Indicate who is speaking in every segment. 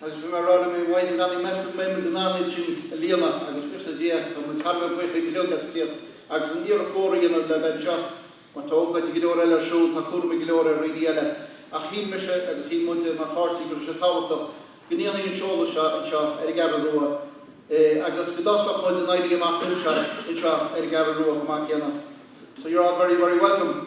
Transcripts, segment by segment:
Speaker 1: Agus bhí mé ag rá liom fhéin, meas tú an mbeidh muid in ann an halla sin a líonadh agus buíochas le Dia, tá muid thar a bheith buíoch go leor agaibh as tíocht agus an iarracht chóir a dhéanamh le bheith anseo mar tá ócáidí go leor eile ar siúl, tá cúramaí go leor ar dhaoine eile. Ach shíl mise agus shíl muid mar pháirtí go raibh sé tábhachtach go ndéanfaí an seoladh seo anseo ar an gCeathrú Rua agus go dtosódh muid an Éirí Amach anseo anseo ar an gCeathrú Rua chomh maith céanna. So you're all very, very welcome.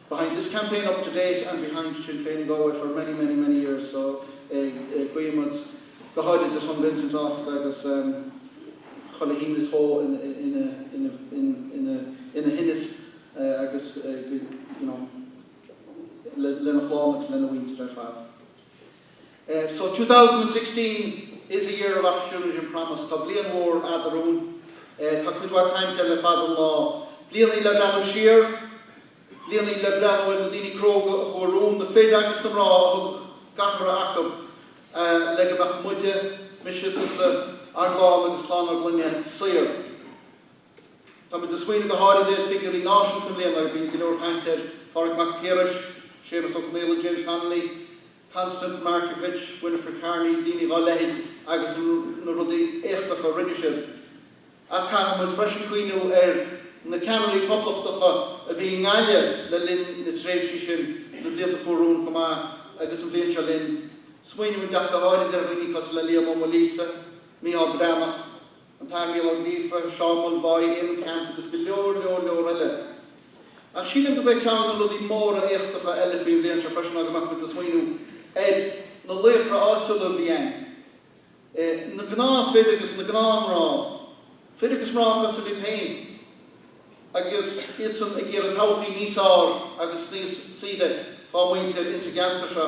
Speaker 1: behind this campaign up to date and behind Sinn Féin in Galway for many, many, many years so go raibh maith agat Vincent as ucht do chuid fuinnimh is do chuid fuinnis agus you know lena chlann agus lena mhuintir ar fad. So, two thousand and sixteen is a year of opportunity and promise, tá bliain mhór fhada romhainn, tá cuid mhaith cainte le fada an lá, bliain í le breathnú siar, bliain í le breathnú ar na daoine cróga a chuaigh romhainn, na fir agus na mná a thug gach a raibh acu le go mbeadh muide, mise, tusa, ár gclann agus clann ár gclainne saor. Táimid ag smaoineamh go háirid ar figiúirí náisiúnta i mbliana. Bíonn go leor cainte ar Phádraig Mac Piarais, Séamus Ó Conghaile, James Connolly, Constance Markievicz, Winifred Carney, daoine dhá leithéid agus na rudaí éachtacha a rinne siad. Ach caithfidh muid freisin cuimhneamh ar na ceannairí poblachtacha a bhí i nGaillimh le linn na tréimhsí sin sna blianta a chuaigh romhainn chomh maith agus an bhliain seo linn. Smaoinímid ach go háirid ar dhaoine cosúil le Liam Ó Maoilíosa, Micheál Breathnach, an tAthair Micheál Ó Gríofa, Seoirse Mulvái, Éamonn Ceannt agus go leor, leor, leor eile. Ach sílim go mbeidh ceann de na rudaí móra éachtacha eile faoin bhliain seo freisin ná go mbeadh muid ag smaoineamh ar na laochra áitiúla a bhí ann, na gnáthfhir agus na gnáthmná, fir agus mná cosúil linn féin, agus iadsan ag iarraidh todhchaí níos fearr agus níos saoire dhá muintir ins an gceantar seo.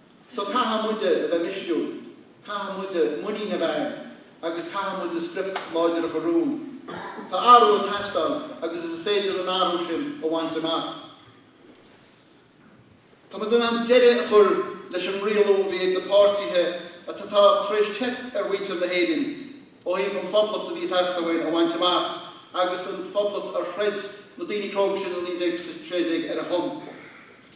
Speaker 1: So caithfidh muide a bheith misniúil, caithfidh muide muinín a bheith againn agus caithfidh muide sprioc láidir a chur romhainn. Tá athrú ag teastáil agus is féidir an athrú sin a bhaint amach. Tá muid in ann deireadh a chur leis an rialú a bhí ag na páirtithe atá tar éis teip ar mhuintir na hÉireann ó thaobh an Phoblacht a bhí ag teastáil uainn a bhaint amach agus an Phoblacht ar chreid na daoine cróga sin i 1916 ar a son.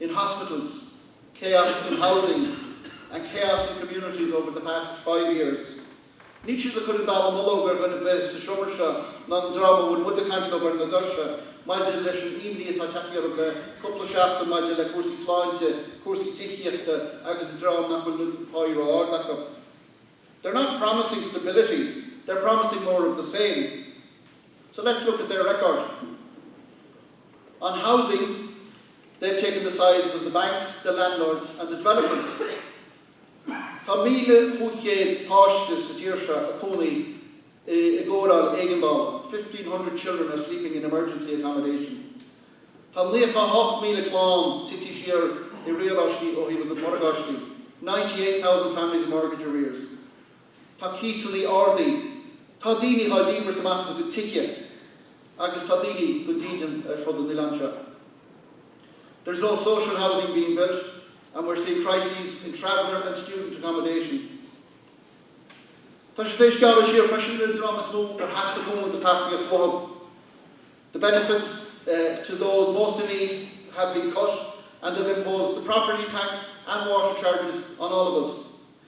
Speaker 1: in hospitals, chaos in housing and chaos in communities over the past five years. Níl siad ag cur an dallamullóg ar dhuine ar bith sa seomra seo ná an dream a bhfuil muid ag caint leo ar na doirse maidir leis an imní atá ag teacht orthu le cúpla seachtain maidir le cúrsaí sláinte, cúrsaí tithíochta agus an dream nach bhfuil an páí ró-ard acu. They're not promising stability, they're promising more of the same. So let's look at their record. On housing, they've taken the sides of the banks, the landlords and the developers. Tá 1,500 páiste sa tír seo ag cónaí i i gcóireáil éigeandála, 1,500 children are sleeping in emergency accommodation. Tá 98,000 clann tite siar i riaráistí ó thaobh a gcuid morgáistí, 98,000 families in mortgage arrears. Tá cíosannaí ardaithe. Tá daoine dhá dhíbirt amach as a gcuid tithe agus tá daoine gan dídean ar fud an oileáin seo. There's no social housing being built and we're seeing crises in traveller and student accommodation. Tá siad tar éis gearradh siar freisin ar an dream is mó ar theastaigh cúnamh agus tacaíocht uathu. The benefits to those most in need have been cut and they've imposed the property tax and water charges on all of us.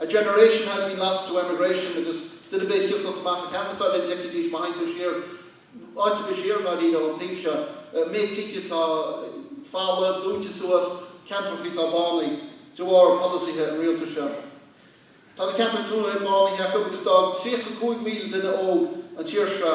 Speaker 1: A generation had been lost to emigration agus duine ar bith a thiocfadh amach ag canbhasáil linn d'fheicfidís má théann tú siar áit ar bith siar ná ríleann an taobh seo, méid tithe atá folamh, dúnta suas, ceantrachaí atá bánaithe de bharr polasaithe an Rialtais seo. Tá na ceantracha tuaithe bánaithe acu agus d'fhág 35,000 duine óg an tír seo.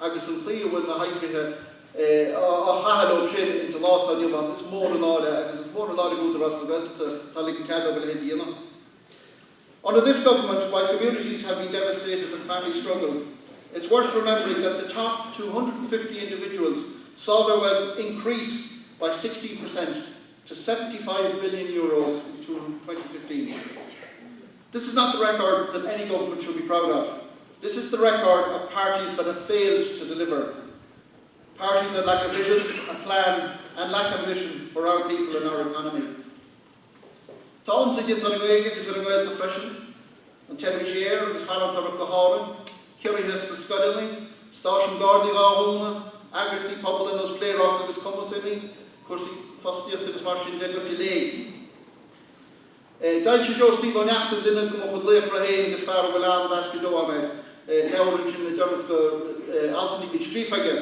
Speaker 1: agus an chaoi a bhfuil na hoibrithe á chaitheamh leo sin ins an lá atá inniu ann, is mór an náire é agus is mór an náire do Údarás na Gaeltachta atá ag ligean cead dóibh a leithéid a dhéanamh. Under this government, while communities have been devastated and families struggle, it's worth remembering that the top 250 individuals saw their wealth increase by 16 percent to 75 billion euros in 2015. This is not the record that any government should be proud of, this is the record of parties that have failed to deliver, parties that lack a vision, a plan and lack ambition for our people and our economy. Tá ionsaí déanta ar an nGaeilge agus ar an nGaeltacht freisin, an tseirbhís aeir agus farantóireacht go hÁrainn, ciorruithe sna scoileanna, stáisiúin Gardaí dhá dhúnadh, eagraíochtaí pobail ar nós Pléaráca agus Cumas imithe, cúrsaí fostaíochta agus mar sin de, goite i léig. D'fhoilsigh Joe Steve Ó Neachtain, duine de mo chuid laochra féin agus fear a bhfuil an-mheas go deo agam air, leabhar ansin le deireanas de altanna a bhí scríofa aige.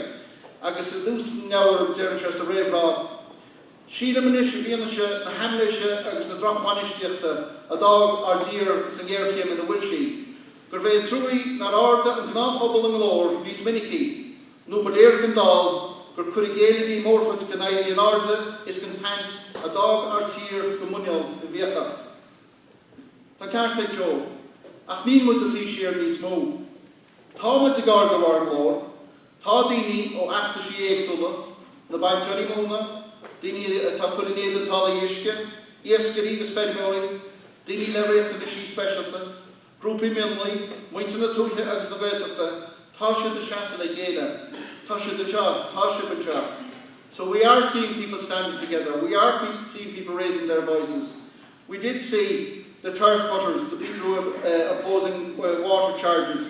Speaker 1: Agus i dtús an leabhair deireann sé sa réamhrá, 'Sílim anois i bhfianaise na haimléise agus na drochbhainistíochta a d'fhág ár dtír sa ngéarchéim ina bhfuil sí, gurbh é an truaí nár ardaigh an gnáthphobal a nglór níos minicí. nó ba léir don dall gur cur i gcéill a bhí i mórchuid den éirí in airde is den tsaint a d'fhág ár dtír go muineál i bhfiacha. Tá ceart ag Joe. Ach níl muid ag suí siar níos mó. Tá muid ag ardú ár nglór. Tá daoine ó fheachtaisí éagsúla, na bainteoirí móna, daoine atá ag cur in éadan táillí uisce, iascairí agus feirmeoirí, daoine le riachtanaisí speisialta, Grúpaí mionlaigh, muintir na tuaithe agus na Gaeltachta, tá siad ag seasamh le chéile, tá siad anseo, tá sibh anseo. So we are seeing people standing together, we are seeing people raising their voices. We did see the turf cutters, the people who were opposing water charges,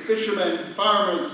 Speaker 1: fishermen, farmers.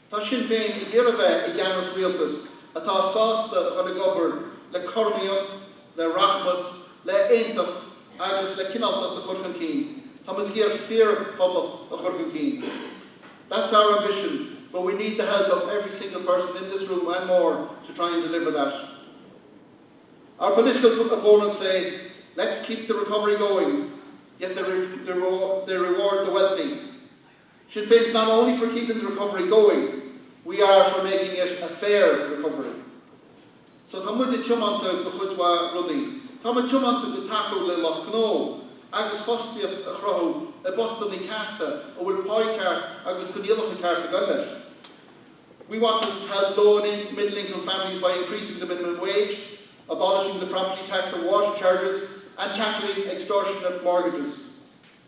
Speaker 1: Tá Sinn Féin ag iarraidh bheith i gceannas rialtas atá sásta a dhul ag obair le cothromaíocht, le rachmas, le h-aontacht agus le cineáltacht a chur chun cinn. Tá muid ag iarraidh fíor Phoblacht a chur chun cinn. That's our ambition but we need the help of every single person in this room and more to try and deliver that. Our political opponents say let's keep the recovery going yet they reward the wealthy. Sinn Féin's not only for keeping the recovery going, we are for making it a fair recovery. So tá muid tiomanta do chuid mhaith rudaí. Tá muid tiomanta do thacú le lucht gnó agus fostaíocht a chruthú i bpostannaí cearta a bhfuil páigh cheart agus coinníollacha cearta ag dul leis. We want to help low-and middle-income families by increasing the minimum wage, abolishing the property tax and water charges, and tackling extortionate mortgages.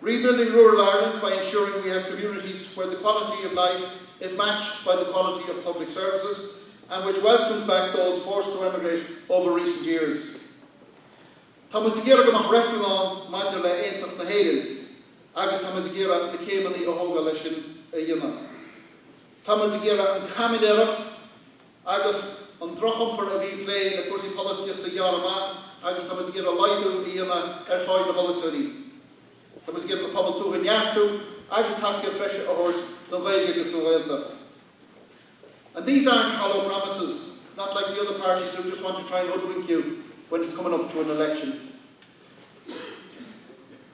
Speaker 1: Rebuilding Rural Ireland by ensuring we have communities where the quality of life is matched by the quality of public services and which welcomes back those forced to emigrate over recent years. Tá muid ag iarraidh go mbeadh reifreann ann maidir le haontacht na hÉireann agus tá muid ag iarraidh na céimeanna a thógáil leis sin a dhéanamh. Tá muid ag iarraidh an caimiléireacht agus an drochiompar a bhí ag plé le cúrsaí polaitíochta a ghearradh amach agus tá muid ag iarraidh laghdú a dhéanamh ar pháigh na bpolaiteoirí. Tá muid ag iarraidh an pobal tuaithe a neartú agus tacaíocht breise a thabhairt don Ghaeilge agus don Ghaeltacht. And these aren't hollow promises, not like the other parties who just want to try and hoodwink you when it's coming up to an election.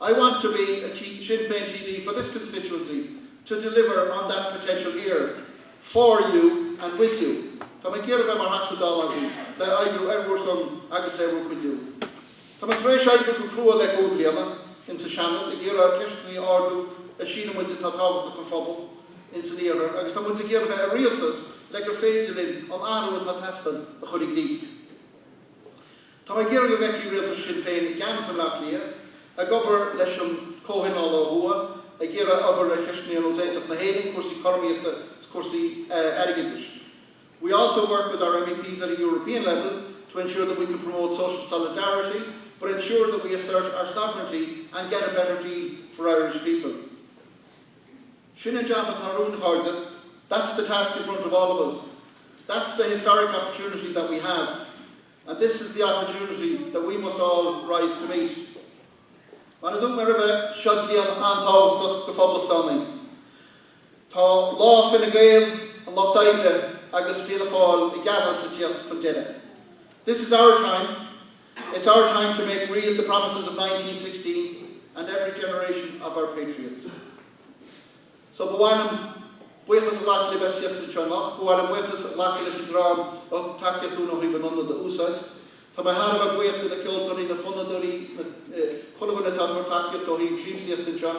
Speaker 1: I want to be a Sinn Féin TD for this constituency to deliver on that potential here, for you and with you. Tá mé ag iarraidh bheith mar Theachta Dála agaibh le oibriú ar bhur son agus le bhur cuidiú. Tá mé tar éis oibriú go crua le cúig bliain in sa Seanad ag iarraidh ceisteanna a ardú a síleann muid atá tábhachtach don phobal in san iarthar agus tá muid ag iarraidh bheith i Rialtas le gur féidir linn an t-athrú atá ag teastáil a chur i gcrích. Tá mé ag iarraidh go bhfeicfidh Rialtas Sinn Féin i gceannas i mBleá Cliath ag obair leis an gComhthionól ó Thuaidh ag iarraidh obair ar cheisteanna ar nós Aontacht na hÉireann, cúrsaí cothromaíochta, cúrsaí airgeadais. We also work with our MEPs at a European level to ensure that we can promote social solidarity but ensure that we assert our sovereignty and get a better deal for Irish people. Sin an jab atá romhainn a chairde. That's the task in front of all of us. That's the historic opportunity that we have. And this is the opportunity that we must all rise to meet. Mar a dúirt mé roimhe, seo bliain an-tábhachtach go phoblachtánaigh. Tá lá Fine Gael, an Lucht Oibre agus Fianna Fáil i gceannas ag tíocht chun deireadh. This is our time. It's our time to make real the promises of nineteen sixteen and every generation of our patriots. So ba mhaith liom buíochas a ghlacadh libh as tíocht anseo anocht. Ba mhaith liom buíochas a ghlacadh leis an dream a thug tacaíocht dúinn ó thaobh an ionad a úsáid. Tá mé thar a bheith buíoch de na ceoltóirí, na fonnadóirí, na, eh, chuile dhuine atá ag tabhairt tacaíochta ó thaobh siamsaíochta anseo.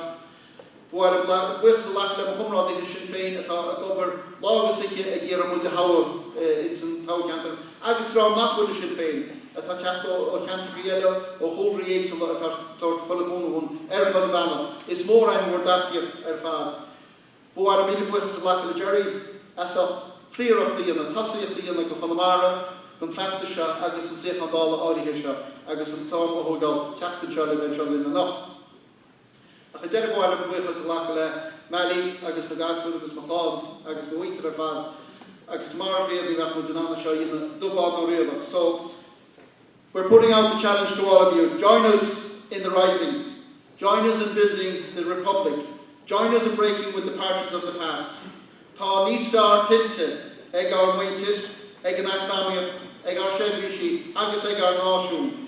Speaker 1: Ba mhaith liom gla, buíochas a ghlacadh le mo chomrádaithe i Sinn Féin atá ag obair lá agus oíche ag iarraidh muid a thoghadh, eh, ins an toghcheantar. Agus dream nach bhfuil i Sinn Féin atá ag teacht ó cheantrachaí eile ó chúlraí éagsúla atá ag tabhairt chuile chúnamh dúinn ar chuile bhealach. Is mór againn bhur dtacaíocht ar fad. Ba mhaith liom míle buíochas a ghlacadh le Gerry as ucht príoracht a dhéanamh, tosaíocht a dhéanamh go Chonamara don feachtas seo agus an suíochán Dála áirithe seo agus an t-am a thógáil teacht anseo le bheith anseo linn anocht. Ach ar deireadh ba mhaith liom buíochas a ghlacadh le Mally agus na gasúir agus mo chlann agus mo mhuintir ar fad agus marach iad ní bheadh muid in ann é seo a dhéanamh dubh, bán ná riabhach. So we're putting out the challenge to all of you, join us in the rising, join us in building the Republic, join us in breaking with the parties of the past. Tá níos fearr tuillte ag ár muintir, ag an eacnamaíocht, ag ár seirbhísí agus ag ár náisiún.